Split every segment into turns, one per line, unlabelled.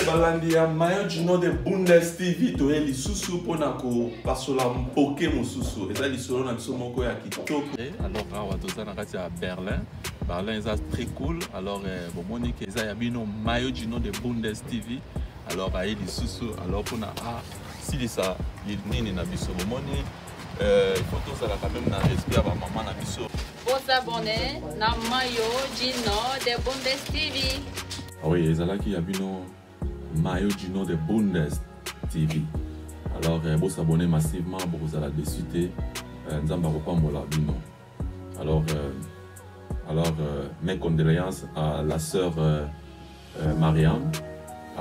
balandi ya mayo jino de bundes tv toye lisusu mpona kopasola mpoke mosusu eza lisolo na biso moko ya kitoko eh, alors awa toza
na kati ya berlin berlin eza très cool alors eh, bomoni ke eza ya bino mayo jino de bundes tv alors aye lisusu alors mpona asilisa ah, nini na biso bomoni Euh, il faut tozala quand même na respect ya bamama na biso bosabone
na mayo jino de bundes tv ah oui ezalaki
ya bino mayo jino de bundes tv alors euh, bosabone massivement bokozala desu te euh, nzambe akopambola bino Alors, euh, alors euh, mes condoléances à la sœur euh, euh, Marianne.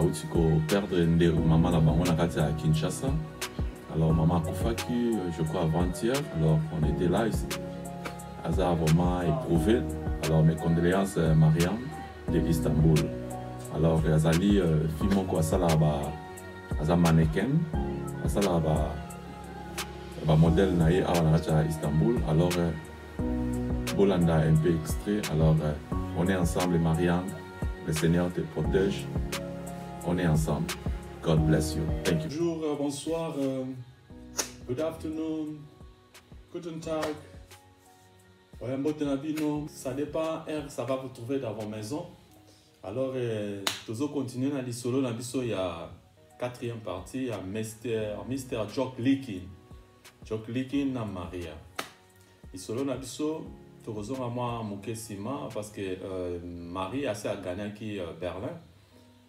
auti koperdre nde mama na bango na kati ya kinshasa alors mama akufaki euh, je crois avant-hier alors on était là ici aza vraiment éprouvé alors mes condoléances euh, mariam de istanbul alors azali euh, fi moko asalaka ba aza mannequin asalaka ba ba modèle na ye awa na kati ya istanbul alors euh, bolanda un peu extrait alors euh, on est ensemble marianne le seigneur te protège on est ensemble god bless you thank you bonjour euh, bonsoir
euh, good afternoon guten tag ouais mbote na bino ça dépend heure ça va vous trouver dans vos maisons Alors, euh, tozo continuer na lisolo na biso ya quatrième partie ya Mr. Mr. Jock Likin. Jock Likin na Maria. Lisolo na biso tokozonga mwa moke nsima parce que euh, Maria asi aganaki euh, Berlin.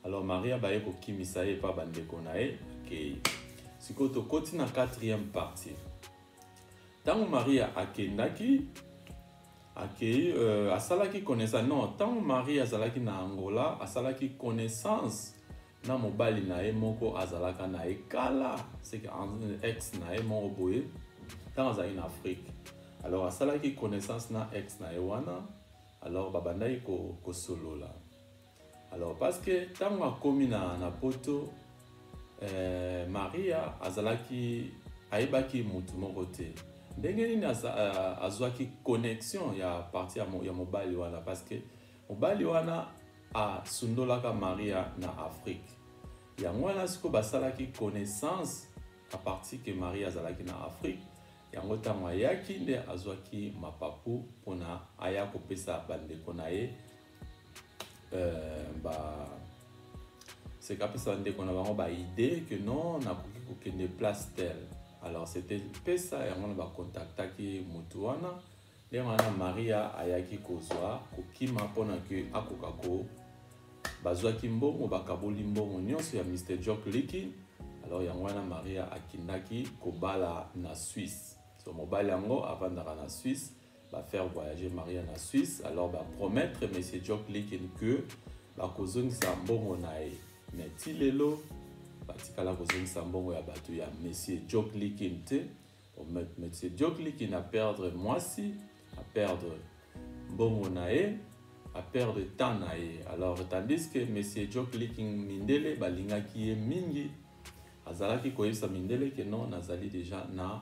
Alors Maria baye kokimisa ye epa bandeko na ye akei. Sikoyo tokoti na quatrième partie. Ntango Maria akendaki akei euh, asalaki connaissance non ntango marie azalaki na angola asalaki connaissance na mobali na ye moko azalaka na ye kala seke ex na ye moko boye ntango azalaki na afrique alors asalaki connaissance na ex na ye wana alors babandaki kosolola ko alors parce que ntango akomi na, na poto eh, maria azalaki ayebaki motu moko te ndenge nini eh, azwaki connexion ya parti ya, mo, ya mobali wana parce que mobali wana asundolaka maria na afrique yango wana sikoyo basalaki connaissance a partir ke maria azalaki na afrique yango ntango ayaki nde azwaki mapapu mpona aya kopesa bandeko na ye euh, ba c'est kapesa bandeko na bango baidée que non nakoki kokende place tel alors c'était pesa yango na bakontaktaki motu wana nde wana maria ayaki kozwa kokima mpona ke akoka ko bazwaki mbongo bakaboli mbongo nyonso ya mr jock liki alors yango wana maria akendaki kobala na suisse so mobali yango avandaka na suisse ba faire voyager Maria na Suisse alors ba promettre monsieur Jock Likin que bakozongisa mbongo na ye mais ti lelo batikala kozongisa mbongo ya bato ya monsieur Jock Likin te monsieur Jock Likin a perdre mwasi a perdre mbongo na ye a perdre temps na ye alors tandis que monsieur Jock Likin mindele balingaki ye mingi azalaki koyebisa mindele ke non nazali deja na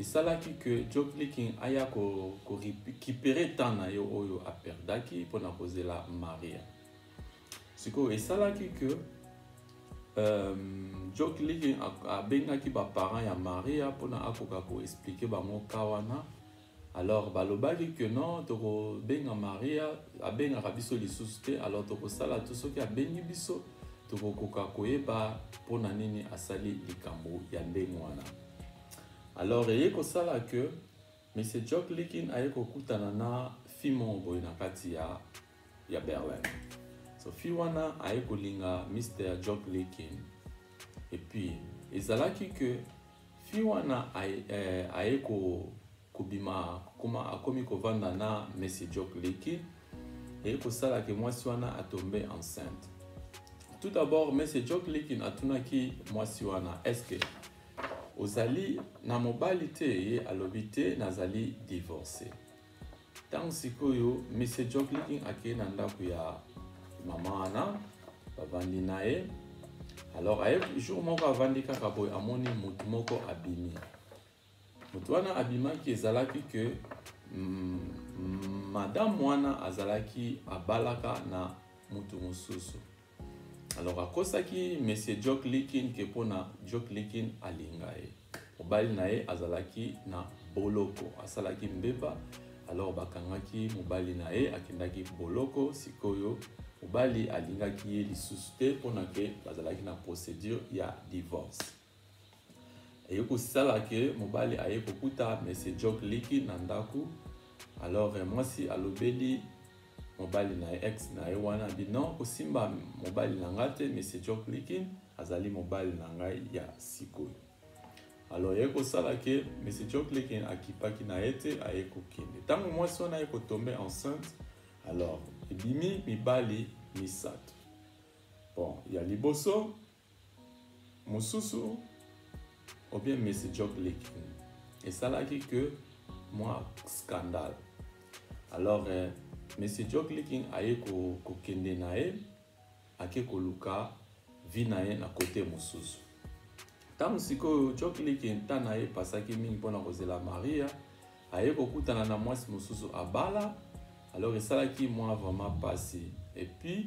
esalaki que Joe Clicking aya ko, ko récupérer temps na yo oyo aperdaki pona kozela Maria sikoyo esalaki que euh, Joe Clicking abengaki ba parents ya Maria pona akoka ko expliquer bango ka wana alors balobaki que non tokobenga Maria abengaka biso lisusu te alors tokosala to soki abengi biso tokokoka koyeba mpo na nini asali likambo ya ndenge wana alors eye kosala que monsieur jock likin aye kokutana na fille moko boye na kati ya, ya berlin so fille wana aye kolinga mr jock likin epuis ezalaki que fille wana aye, eh, aye ko, kobima koma akomi kovanda na monsieur jock likin eye kosala ke mwasi wana atombe enceinte tout d'abord monsieur jock likin atunaki mwasi wana est ce que ozali na mobali te ye alobi te nazali divorce ntango sikoyo mr john clicking akei na ndako ya mama wana bavandi na ye alors aye jour moko avandi kaka boye amoni motu moko abimi motu wana abimaki ezalaki ke mm, mm, madame wana azalaki abalaka na motu mosusu alors akosaki monsieur jok likin ke mpo na jok likin alinga ye mobali na ye azalaki na boloko asalaki mbeba alors bakangaki mobali na ye akendaki boloko sikoyo mobali alingaki ye lisusu te mpo na ke bazalaki na procédure ya divorce eye kosala ke mobali aye kokuta monsieur jok liki na ndako alors eh, mwasi alobeli mobali na ye ex na ye wana abi non kosimba mobali na ngai te monsieur jok liki azali mobali na ngai ya sikoyo alors ye kosala ke monsieur jok liki akipaki na ye te aye kokende ntango mwasi wana ye kotombe enceinte alors ebimi mibali misato bon ya liboso mosusu ou bien Messi Jock Lekin esalaki que mwa scandale alors eh, Messi Jock Lekin aye kokende ko na ye ake koluka vie na ye na kote mosusu ntango sikoyo Jock Lekin nta na ye epasaki mingi mpo na kozela Maria aye kokutana na mwasi mosusu abala alors esalaki mwa vraiment mpasi epuis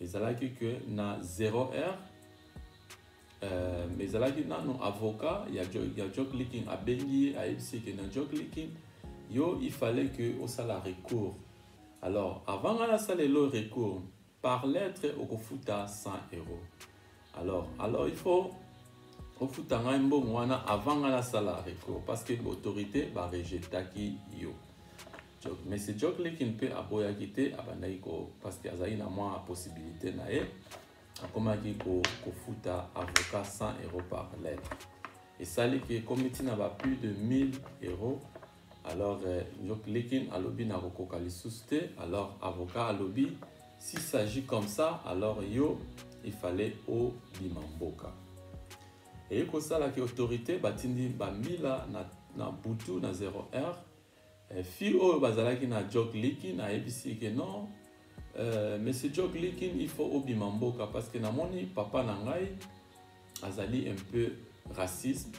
ezalaki que na 0 heure euh, mais ezalaki nano avocat ya, jo, ya jock leaking abengi ye ayebisi ke na jock leaking yo il fallait que osala recours alors avant nga nasala elo recours par lettre okofuta 100 euros alors alors il faut ofuta ngai mbongo wana avant nga nasala recours parce que autorité barejetaki yo Jok. Mais c'est Jok Leki mpe aboyaki te, abandaki ko parce que azali na mwa possibilité na ye, akomaki ko kofuta avocat 100 euros par lettre. Esali ke ekomi ntina ba plus de 1000 euros. Alors euh, Jok Lekin alobi na kokoka lisusu te. Alors avocat alobi s'il s'agit comme ça, alors yo il fallait au Bimamboka. Et ça, la autorité batindi bambila na, na butu na 0 heure Eh, fille oyo bazalaki na jok likin ayebisi ke non euh, monsieur jok likin il faut obima mboka parce que namoni papa na ngai azali un peu racisme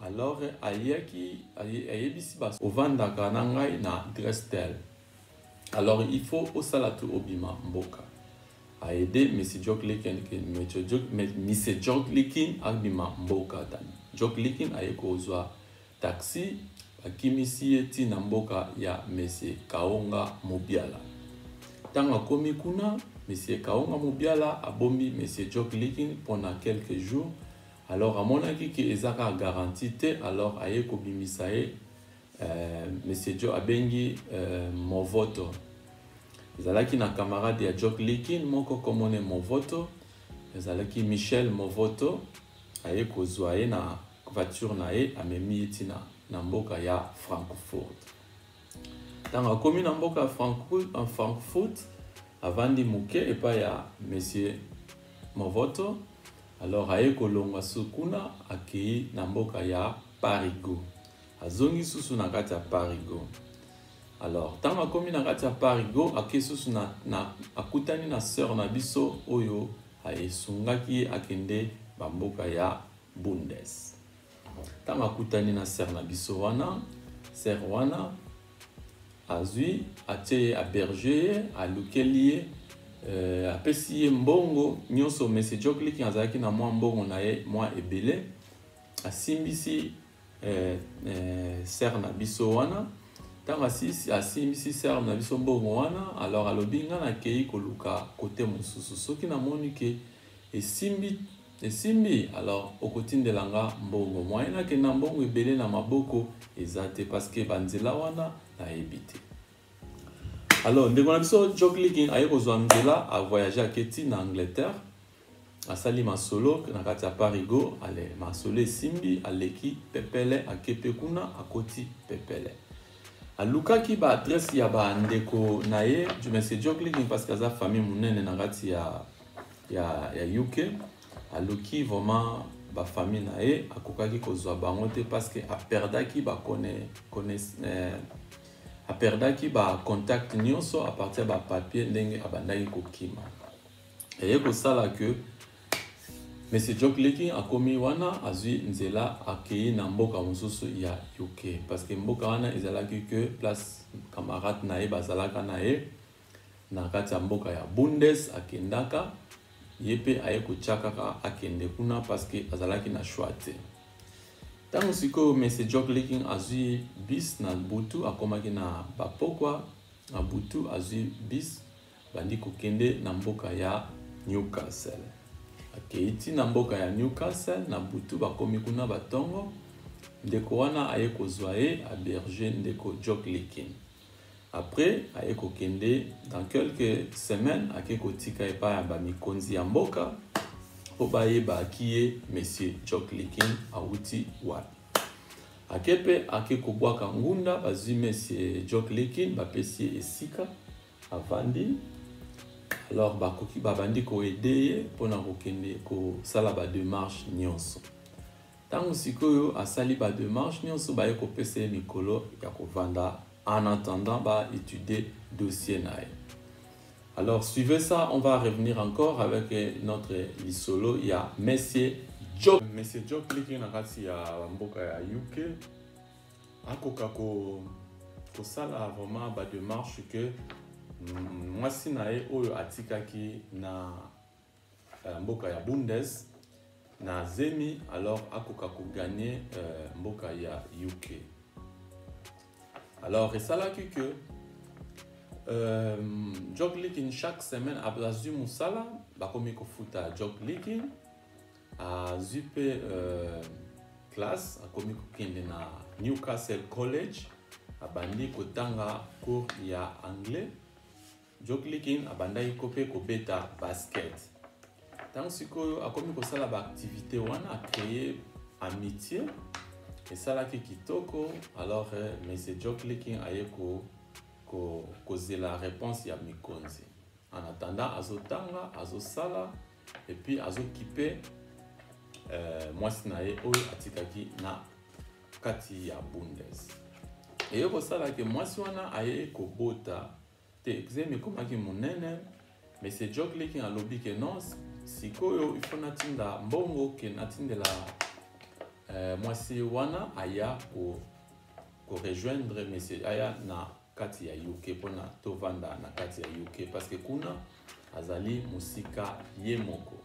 alors ayaki ayebisi bas ovandaka na ngai na adresse tel alors il faut osala tu obima mboka aide monsieur jok likin monsieur jok likin abima mboka tani jok likin aye kozwa Taxi bakimisi ye ti na mboka ya Monsieur Kaonga Mubiala. Tango akomi kuna, Monsieur Kaonga Mubiala abombi Monsieur Jock Leaking pona quelques jours, alors amonaki que eza kaka garantie te, alors aye kobimisa ye, euh, Monsieur Joe abengi euh, Movoto. Ezalaki na camarade ya Jock Leaking moko kombo ne Movoto, ezalaki Michel Movoto, aye kozwa ye na voiture na ye amemi ye ntina na mboka ya frankfurt ntango akomi na mboka ya frankfurt avandi moke epai ya monsieur movoto alors aye kolongwa su kuna akei na mboka ya parigo azongi susu na kati ya parigo alors ntango akomi na kati ya parigo akei susu na, na, akutani na sœur na biso oyo esungaki ye akende bamboka ya Bundes. Ntango akutani na ser na biso wana, ser wana azwi atie ye aberge ye alukeli ye euh, apesi ye mbongo nyonso monsieur joclik azalaki na mwa mbongo na ye mwa ebele asimbisi euh, euh, ser na biso wana ntango asimbisi ser na biso mbongo wana alors alobi ngai nakei koluka kote mosusu soki namoni ke esimbi Esimbi alors okotindela nga mbongo moyen nakenda mbongo ebele na maboko eza te parce que ba nzela wana nayebi te. Alors ndeko na biso Joklikin aye kozwa nzela a voyager ake ti na Angleterre asali masolo na kati ya parigo ale masolo esimbi aleki pepele akepe kuna akoti pepele alukaki ba adresse ya ba ndeko na ye monsieur Joklikin parce que aza famille munene na kati ya ya, ya uk aluki vraiment bafamille na ye akokaki kozwa bango te parce que aperdaki bakone eh, aperdaki bacontact nyonso a partir ya bapapier ndenge abandaki kokima eye kosala que Monsieur Jock Leki akomi wana azui nzela akei na mboka mosusu ya UK parce que mboka wana ezalaki que place camarade na ye bazalaka na ye na kati ya mboka ya Bundes akendaka ye mpe aye kotya kaka akende kuna parceke azalaki na choix te ntango sikoyo mese jock liking azwi bis na butu akomaki na bapokwa na butu azwi bis bandi kokende na mboka ya newcastle akei ti na mboka ya newcastle na butu bakomi kuna batongo ndeko wana aye kozwa ye aberge ndeko jock liking Après, aye kokende dans quelques semaines ake kotika epai ya bamikonzi ya mboka mpo bayeba kiye monsieur Jock Likin awuti wapi. Ake mpe ake kobwaka ngunda, bazwi monsieur Jock Likin bapesi ye esika avandi alors bakoki babandi koede ye mpona kokende kosala bademarche nyonso Tango sikoyo asali ba demarches nionso baye kopesa ye mikolo ya kovanda en attendant ba etudier dossier na ye. Alors suivez ça, on va revenir encore avec notre lisolo ya Monsieur Job. Monsieur Job liki na kati ya mboka ya UK akoka ko kosala vraiment ba démarche que mwasi na ye oyo atikaki na euh, mboka ya bundes na zemi alors akoka koganye euh, mboka ya uk alors esalaki que euh, jog likin chaque semaine azwi mosala bakomi kofuta jog likin azwi mpe euh, classe akomi kokende na newcastle college abandi kotanga cours ya anglais Joklikin abandaki ko mpe kobeta basket. Ntango sikoyo akomi kosala baaktivite wana, acreye amitie esalaki kitoko. Alors eh, monsieur Joklikin aye ko, ko, kozela réponse ya mikonzi. En attendant, azotanga, azosala et puis azokipe euh, mwasi na ye oyo atikaki na kati ya bundes eye kosala ke mwasi wana aye kobota te exeme ekomaki monene monsieur jock leking alobi ke non sikoyo ifo natinda mbongo ke natindela eh, mwasi wana aya ko korejoindre monsieur aya na kati ya uk mpona tovanda na kati ya uk parce que kuna azali mosika ye moko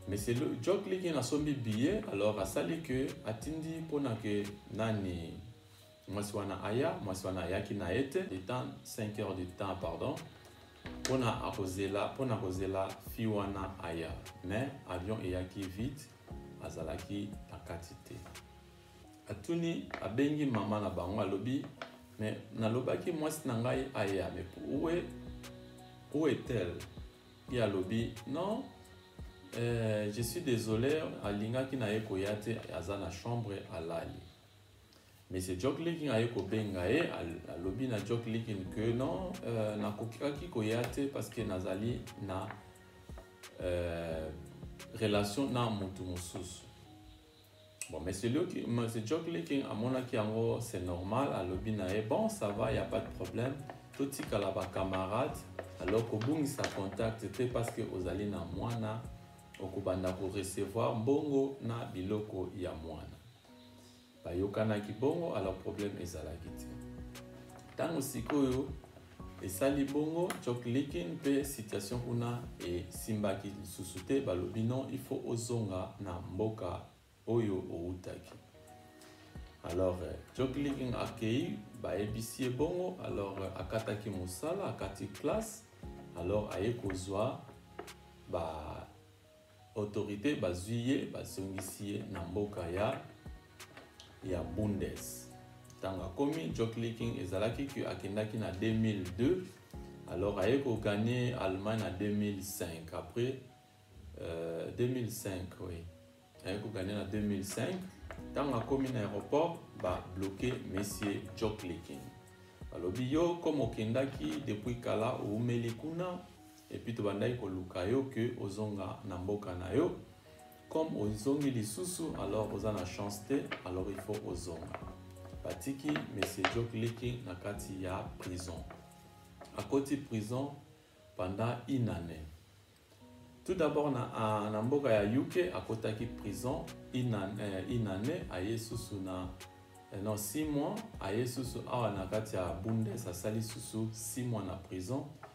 monsieur jock leking asombi billet alors asali ke atindi mpona ke nani mwasi wana aya mwasi wana ayaki na ye te le temps 5 heures du temps pardon mpona akozela mpona kozela fi wana aya mais avion eyaki vite azalaki na kati te atuni abengi mama na bango alobi mais nalobaki mwasi na ngai aya mais où est, où est-elle ye alobi non euh, je suis désolé alingaki na ye koya te aza na chambre alali Monsieur Jock Likin aye kobenga ye alobi na Jock Likin que non euh, nakokaki koya te parce que nazali na euh, relation na motu mosusu bon monsieur, Luki, monsieur Jock Likin amonaki yango c'est normal alobi na ye bon ça va y a pas de problème totikala bacamarade alors kobungisa contact te parce que ozali na mwana okobanda korecevoir mbongo na biloko ya mwana bayokanaki bongo alors problème ezalaki te ntango sikoyo esali bongo jock likin mpe situation kuna esimbaki lisusu te balobi non il faut ozonga na mboka oyo owutaki alors euh, jock likin akei bayebisi ye bongo alors euh, akataki mosala akati classe alors aye kozwa ba Autorites bazwi ye bazongisi ye na mboka ya ya Bundes. Ntango akomi Jocklicking ezalaki que akendaki na 2002 alors aye ko gagner Allemagne na 2005 après euh, 2005 oui aye ko gagner na 2005 ntango akomi na aéroport ba bloquer monsieur Jocklicking balobi yo comme okendaki depuis kala oumeli kuna et puis tobandaki koluka yo que ozonga na mboka na yo comme ozongi lisusu alors oza na chance te alors il faut ozonga batiki monsieur joke liki na kati ya prison akoti prison pendant une année tout d'abord na, a, na mboka ya uk akotaki prison une année, euh, une année aye susu na euh, non 6 mois aye susu awa na kati ya bundes asali susu 6 mois na prison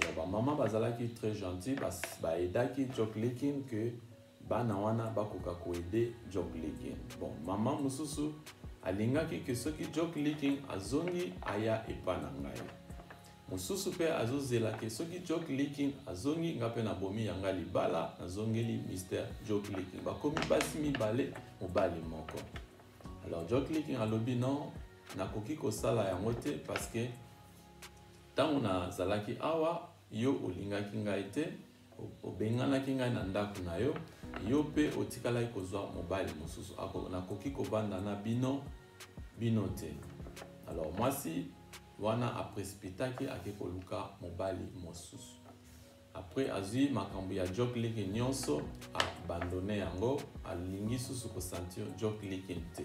alors ba maman bazalaki très gentil ba aidaki Jock Likin que bana wana bakoka ko aider Jock Likin bon maman mususu alingaki que soki Jock Likin azongi aya epa na ngai mosusu mpe azozela ke soki joke leaking azongi nga mpe nabomi yanga libala nazongeli mister joke leaking bakomi basi mibale mobali moko alors joke leaking alobi non nakoki kosala yango te parce que Ntango nazalaki awa, yo olingaki ngai te, obenganaki ngai na ndako na yo, yo mpe otikalaki kozwa mobali mosusu. Nakoki kobanda na bino bino te. Alors mwasi wana aprecipitaki ake koluka mobali mosusu. Après azwi makambo ya Jock Likin nyonso, abandone yango, alingi susu kosentir Jock Likin te.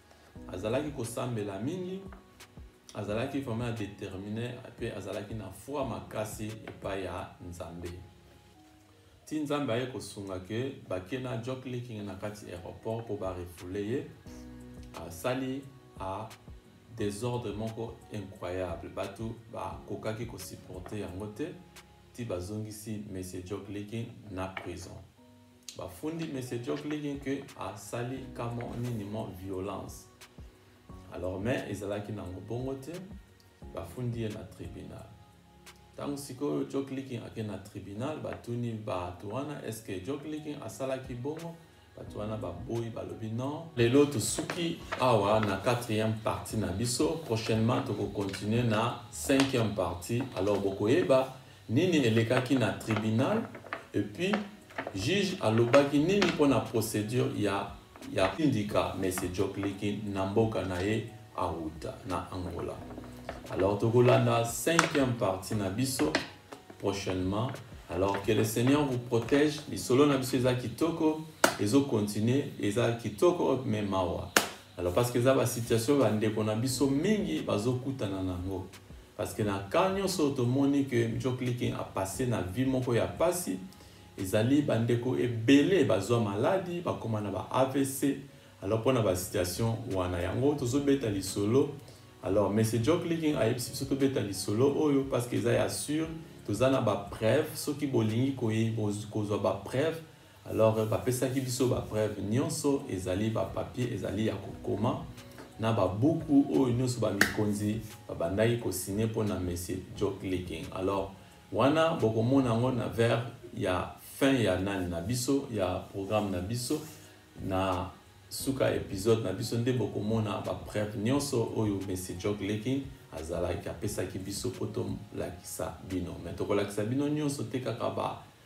azalaki kosambela mingi azalaki vraiment determine mpe azalaki na foi makasi epai ya nzambe ti nzambe aye kosunga ke bake na jock leaking na kati aéroport mpo barefoule ye asali a desordre moko incroyable bato bakokaki kosupporte yango te ti bazongisi monsieur jock leaking na prison bafundi monsieur joe clinton ke asali kamo nini mo violence alors mais ezalaki nango bongo te bafundi ye na tribunal ntango sikoyo joe clinton ake na tribunal batuni bato wana est ce que joe clinton asalaki bongo bato wana baboyi balobi non lelo tosuki awa na quatrième partie na biso prochainement tokocontinue na cinquième partie alors bokoyeba Nini elekaki na tribunal et puis juge alobaki nini pona procedure ya ya indika Monsieur Djoklikin na mboka na ye awuta na Angola. Alors tokolanda cinquième partie na biso prochainement. Alors que le Seigneur vous protège. Lisolo na biso eza kitoko, ezo continuer, eza kitoko mais mawa. Alors parce que eza ba situation ba ndeko na biso mingi bazokutana nango. Parce que na cas nyonso oyo tomoni que Mjo Clicking a passe na vie moko ya pasi, ezali bandeko ebele bazwa maladi, bakoma na ba AVC, alors mpo na ba situation wana yango tozobeta lisolo alors monsieur Joe Clicking ayebisi biso tobeta lisolo oyo parce que eza ya sur toza na ba preuve soki bolingi kozwa ba preuve Alors euh, bapesaki biso bapreuve nyonso, ezali bapapier, ezali ya kokoma na babuku oyo nyonso bamikonzi babandaki kosigne mpo na monsieur Joe Clicking. Alors wana bokomona yango na vers ya fin ya nani na biso ya programme na biso na suka episode na biso nde bokomona bapreuve nyonso oyo monsieur Joe Clicking azalaki apesaki biso mpo tolakisa bino me tokolakisa bino nyonso te kaka ba